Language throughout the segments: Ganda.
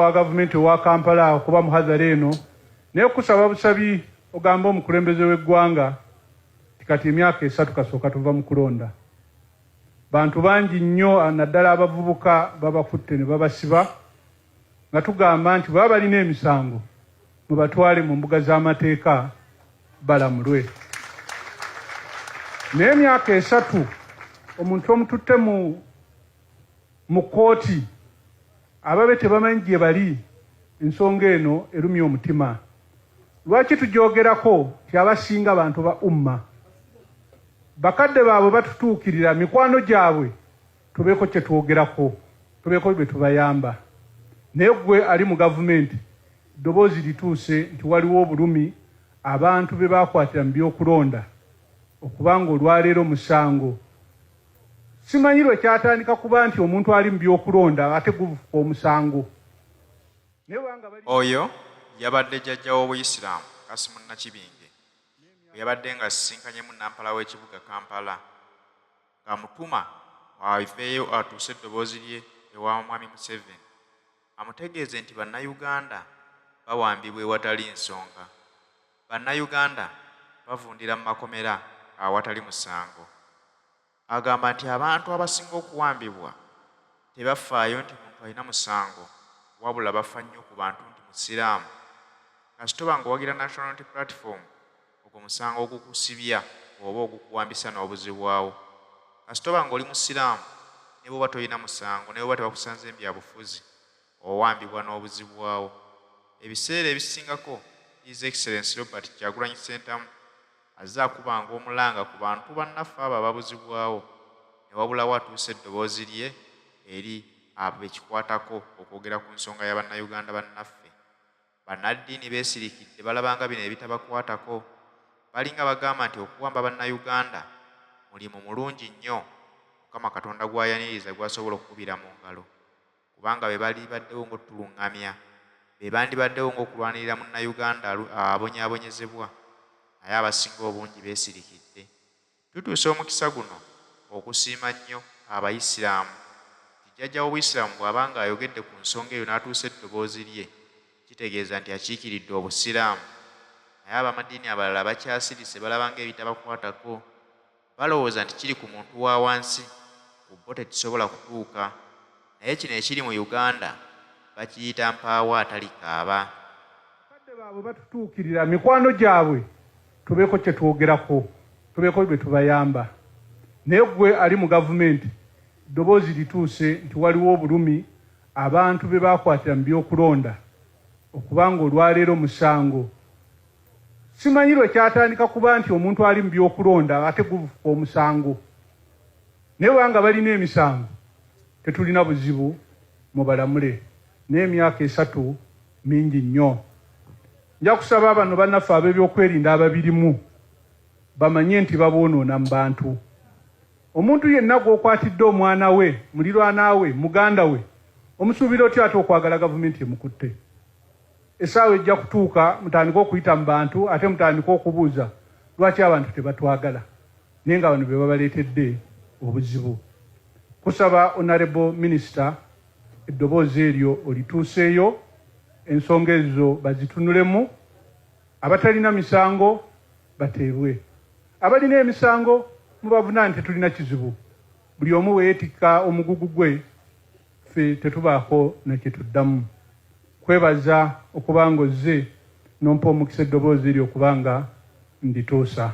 wa gavumenti owa Kampala okuba muhadhara eno naye kusaba busabi ogamba omukulembeze w'eggwanga kati emyaka esatu kasooka tuva mu kulonda bantu bangi nnyo naddala abavubuka babakutte ne babasiba nga tugamba nti baba balina emisango mubatwale mu mbuga z'amateeka balamulwe naye emyaka esatu omuntu omututte mu mu kkooti ababe tebamanyi gye bali. Ensonga eno erumya omutima. Lwaki tugyogerako nti abasinga bantu ba Umma? Bakadde baabwe batutuukirira, mikwano gyabwe tubeeko kye twogerako, tubeeko bye tubayamba. Naye ggwe ali mu gavumenti, eddoboozi lituuse nti waliwo obulumi abantu be baakwatira mu by'okulonda okuba ng'olwaleero musango. Simanyi lwe kyatandika kuba nti omuntu ali mu by'okulonda ate guvuka omusango. Oyo yabadde Jjajja w'obuyisiraamu Kasim Nakibinge bwe yabadde ng'asisinkanyemu Nnampala w'ekibuga Kampala ng'amutuma aveeyo atuuse eddoboozi lye ewa Mwami Museveni amutegeeze nti Bannayuganda bawambibwa ewatali nsonga. Bannayuganda bavundira mu makomera awatali musango. Agamba nti abantu abasinga okuwambibwa tebafaayo nti muntu alina musango wabula bafa nnyo ku bantu nti Musiraamu kasitoba ng'owagira National Unity Platform ogwo musango ogukusibya oba ogukuwambisa n'obuzibwawo kasitoba ng'oli Musiraamu ne bw'oba tolina musango ne bw'oba tebakusanze mu byabufuzi owambibwa n'obuzibwawo ebiseera ebisingako His Excellency Robert Kyagulanyi Ssentamu azze akubanga omulanga ku bantu bannaffe abo ababuzibwawo ne wabulawo atuusa eddoboozi lye eri abo be kikwatako okwogera ku nsonga ya Bannayuganda bannaffe. Bannaddiini beesirikidde balabanga bino ebitabakwatako balinga bagamba nti okuwamba Bannayuganda mulimu mulungi nnyo Mukama Katonda gw'ayaniriza gw'asobola okukubira mu ngalo. kubanga be balibaddewo ng'otulungamya, be bandibaddewo ng'okulwanirira Munnayuganda abonyaabonyezebwa naye abasinga obungi beesirikidde. Tutuusa omukisa guno okusiima nnyo Abayisiraamu nti Jjajja w'Obuyisiraamu bw'aba ng'ayogedde ku nsonga eyo n'atuusa eddoboozi lye, kitegeeza nti akiikiridde Obusiraamu. Naye ab'amadiini abalala bakyasirise balaba ng'ebitabakwatako. balowooza nti kiri ku muntu wa wansi ku bo tekisobola kutuuka naye kino ekiri mu Uganda bakiyita mpaawo atalikaaba. Abakadde baabwe batutuukirira mikwano gyabwe tubeeko kye twogerako tubeeko bye tubayamba naye ggwe ali mu gavumenti ddoboozi lituuse nti waliwo obulumi abantu be baakwatira mu by'okulonda okuba ng'olwaleero musango Simanyi lwe kyatandika kuba nti omuntu ali mu by'okulonda ate guvuka omusango. Naye bwanga balina emisango tetulina buzibu mubalamule naye emyaka esatu mingi nnyo. Nja kusaba bano bannaffe ab'ebyokwerinda ababirimu bamanye nti baboonoona mu bantu. Omuntu yenna gw'okwatidde omwana we, mulirwana we, muganda we omusuubira otya ate okwagala gavumenti emukutte? Essaawa ejja kutuuka mutandike okuyita mu bantu ate mutandike okubuuza lwaki abantu tebatwagala naye nga bano be babaleetedde obuzibu. Kusaba Honorable Minister eddoboozi eryo olituuseeyo ensonga ezo bazitunulemu, abatalina misango bateebwe, abalina emisango mubavunane tetulina kizibu buli omu bwe yeetikka omugugu gwe ffe tetubaako nekituddamu kwebaza okuba nga ozze nompa omukisa eddoboozi lyo okuba nga ndituusa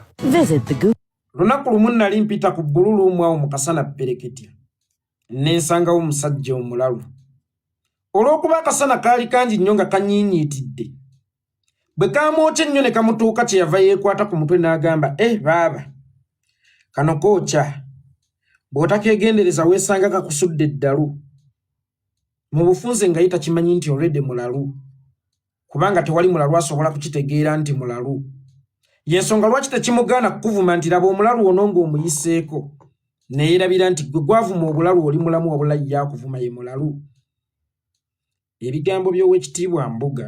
lunaku lumu nnali mpita ku bbululu omwawo mu kasana pereketya nensangawo omusajja omulalu olw'okuba akasana kaali kangi nnyo nga kanyiinyiitidde bwe kaamwokya ennyo ne kamutuuka kye yava yeekwata ku mutwe n'agamba e eh, baaba kano kookya bw'otakeegendereza weesanga kakusudde eddalu mu bufunze nga ye takimanyi nti olwedde mulalu kubanga tewali mulalu asobola kukitegeera nti mulalu yensonga lwaki tekimugaana kukuvuma nti laba omulalu ono ng'omuyiseeko neyerabira nti gwe gwavuma obulalu oli mulamu wabula yakuvuma ye mulalu ebigambo by'owekitiibwa Mbuga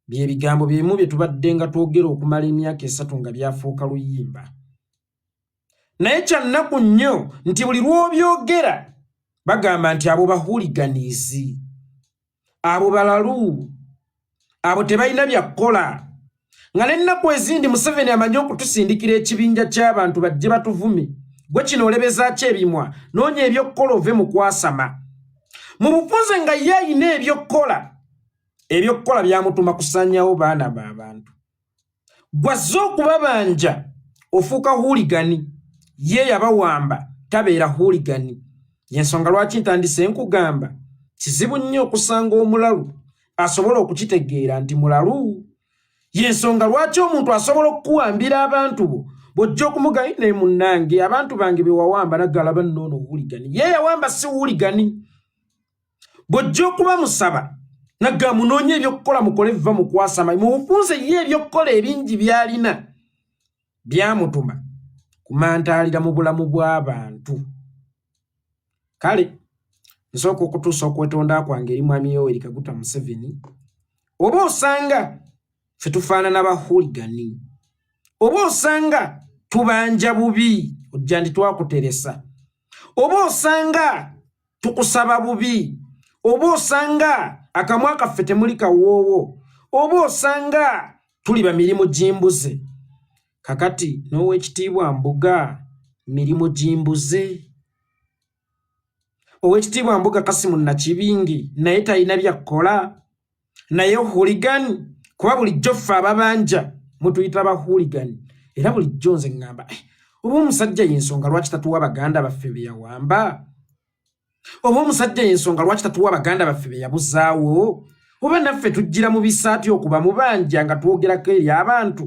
bye bigambo byebimu bye tubadde nga twogera okumala emyaka esatu nga byafuuka luyimba naye kyannaku nnyo nti buli lw'obyogera bagamba nti abo bahuliganizi abo balalu abo tebalina byakukola nga nennaku ezindi museveni amanyi okutusindikira ekibinja ky'abantu bajje batuvume gwe kino olebezaaki ebimwa noonya ebyokukola ove mu kwasama mu bufunze nga ye ayina ebyokukola ebyokukola byamutuma kusanyawo baana baabantu gwazze okubabanja ofuuka huligani ye yabawamba tabeera huligani yensonga lwaki ntandise nkugamba kizibu nnyo okusanga omulalu asobola okukitegeera nti mulalu yensonga lwaki omuntu asobola okukuwambira abantu bo bwojja okumugayi naye munnange abantu bange bewawamba nagalaba noono huligani ye yawamba si huligani bw'ojja okuba musaba nagga munoonya ebyokukola mukole vva mukwasama mubufunze ye ebyokukola ebingi byalina byamutuma kumantaalira mu bulamu bw'abantu kale nsooka okutuusa okwetonda kwange eri mwami yoweri kaguta museveni oba osanga fe tufaanana bahuligani oba osanga tubanja bubi ojja ndi twakuteresa oba osanga tukusaba bubi oba osanga akamwa kaffe temuli kawoowo oba osanga tuli bamirimu gimbuze kakati n'owekitiibwa mbuga mirimu gimbuze owekitiibwa mbuga kasimu nakibingi naye talina byakkola naye huligani kuba bulijjo ffe ababanja mutuyita ba huligani era bulijjo nze ŋŋamba eh, oba omusajja yensonga lwaki tatuwa baganda baffe be yawamba oba omusajja yensonga lwaki tatuwa baganda baffe be yabuzaawo oba naffe tujjira mu bisaati okuba mubanja nga twogerako eri abantu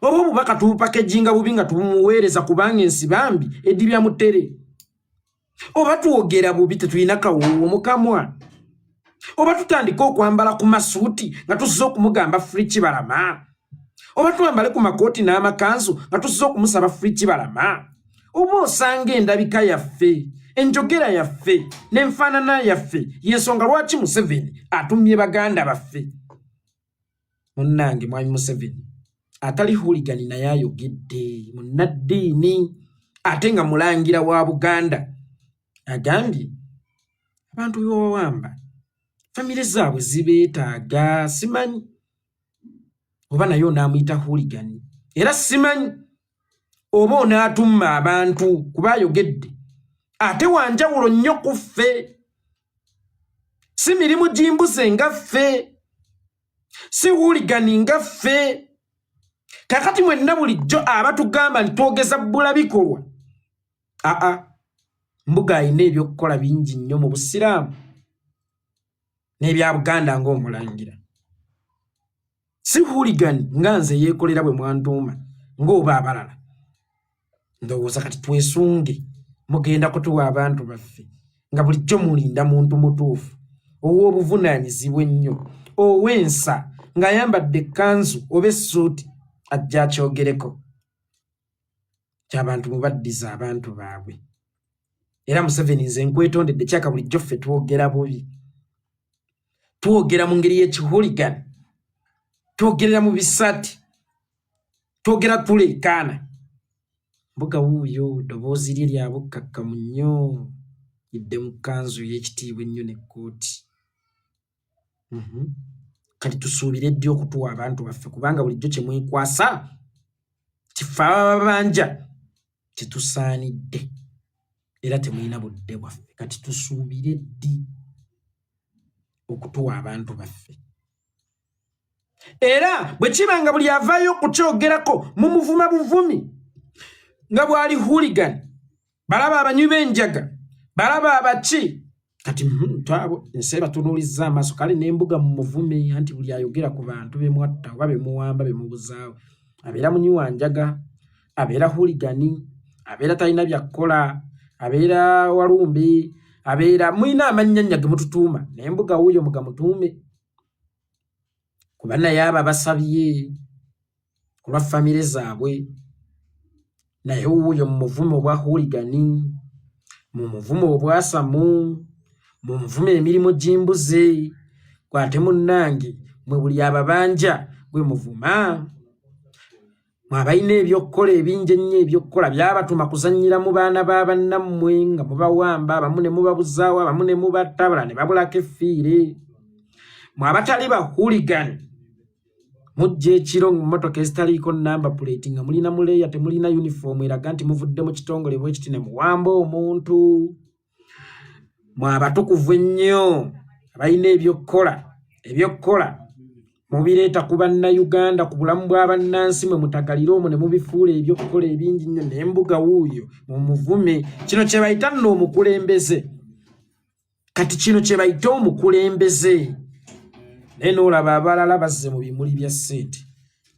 oba obubaka tubupakejinga bubi nga tubumuweereza kubanga ensi bambi edibya mutere oba twogera bubi tetulina kawoowo mukamwa oba tutandika okwambala ku masuuti nga tusiza okumugamba fri kibalama oba twambale ku makooti n'amakanzu nga tusiza okumusaba fri kibalama oba osanga endabika yaffe enjogera yaffe n'enfaanana yaffe y'ensonga lwaki museveni atumye baganda baffe munnange mwami museveni atali huligani naye ayogedde munnaddiini ate nga mulangira wa buganda agambye abantu bewawamba famire zaabwe zibeetaaga simanyi oba naye onaamuyita huligani era simanyi oba onaatumma abantu kuba ayogedde ate wanjawulo nnyo ku ffe si mirimu gimbuze nga ffe si wuligani nga ffe kakati mwenna bulijjo abatugamba nti twogeza bbula bikolwa aa mbuga alina ebyokukola bingi nnyo mu busiraamu n'ebya buganda ng'omulangira si hooligan nga nze yeekolera bwe mwantuuma ng'oba abalala ndowooza kati twesunge mugenda kutuwa abantu baffe nga bulijjo mulinda muntu mutuufu ow'obuvunaanyizibwa ennyo ow'ensa ng'ayambadde ekkanzu oba essuuti ajja akyogereko kyabantu mubaddiza abantu baabwe era museveni nze nkwetondedde kyaka bulijjo ffe twogera bubi twogera mu ngeri y'ekihuligani twogerera mu bisati twogera tuleekaana mbuga wuuyo ddoboozi lye lya bukkakkamu nnyo idde mu kkanzu y'ekitiibwa ennyo ne kkooti mhm. kati tusuubire ddi okutuwa abantu baffe kubanga bulijjo kye mwekwasa kife ababanja tetusaanidde era temulina budde bwaffe kati tusuubire ddi okutuwa abantu baffe era bwe kiba nga buli avaayo okukyogerako mumuvuma buvumi nga bwali huligan balaba abanywi b'enjaga balaba abaki kati hmm, twabo ensi ebatunuulizza amaaso kale n'embuga mu muvume anti buli ayogera ku bantu bemwatta oba bemuwamba bemubuzaawo abeera munywi wa njaga abeera huligani abeera talina byakkola abeera walumbi abeera mulina amannya nnya ge mututuuma naye mbuga wuuyo mugamutuume kuba naye abo abasabye ku lwa famire zaabwe naye wuuyo mu muvumo obwa huligani mu muvumo obwasamu mu muvumo emirimu gy'embuze gwate munnange mwe buli ababanja gwe muvuma mwabalina ebyokukola ebingi ennyo ebyokukola byabatuma kuzannyira mu baana ba bannammwe nga mubawamba abamu ne mubabuzaawo abamu ne mubatta abala ne babulako effiire mwabatali bahuligani mujja ekiro mu mmotoka ezitaliiko namba puleeti nga mulina muleeya temulina yunifoomu eraga nti muvudde mu kitongole bwekiti ne muwamba omuntu mwabatukuvu ennyo abalina ebyokukola ebyokukola mubireeta ku bannayuganda ku bulamu bwa bannansi mwe mutagalire omwo ne mubifuula ebyokukola ebingi nnyo nembuga wuuyo mumuvume kino kye bayita nno omukulembeze kati kino kyebayite omukulembeze naye noolaba abalala bazze mu bimuli bya ssente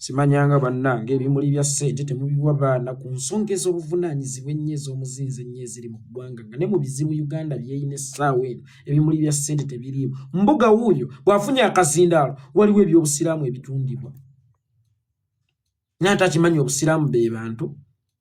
simanyanga bannanga ebimuli bya ssente temubiwa baana ku nsonga ez'obuvunaanyizibwa ennyo ez'omuzinzi ennyo eziri mu ggwanga nga ne mu bizibu uganda byeyina essaawa eno ebimuli bya ssente tebiriimu mbuga wuuyo bw'afunye akazindaalo waliwo eby'obusiraamu ebitundibwa naye ate akimanyi obusiraamu be bantu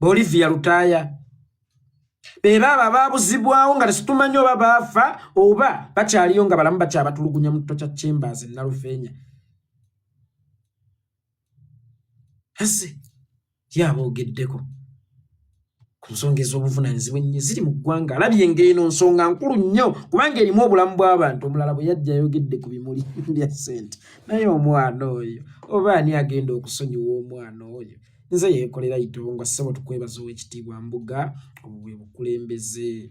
Olivia Lutaaya be baabo abaabuzibwawo nga tetumanyi oba baafa oba bakyaliyo nga balamu bakyabatulugunya mu kito kya chambers nalufeenya ase ye aboogeddeko ku nsonga ez'obuvunaanyizibwa ennyo ziri mu ggwanga alabye ng'eno nsonga nkulu nnyo kubanga erimu obulamu bw'abantu omulala bwe yajja ayogedde ku bimuli bya ssente naye omwana oyo oba ani agenda okusonyiwa omwana oyo nze yeekolera itoonga ssebo tukwebaza ow'ekitiibwa mbuga obwo bwe bukulembeze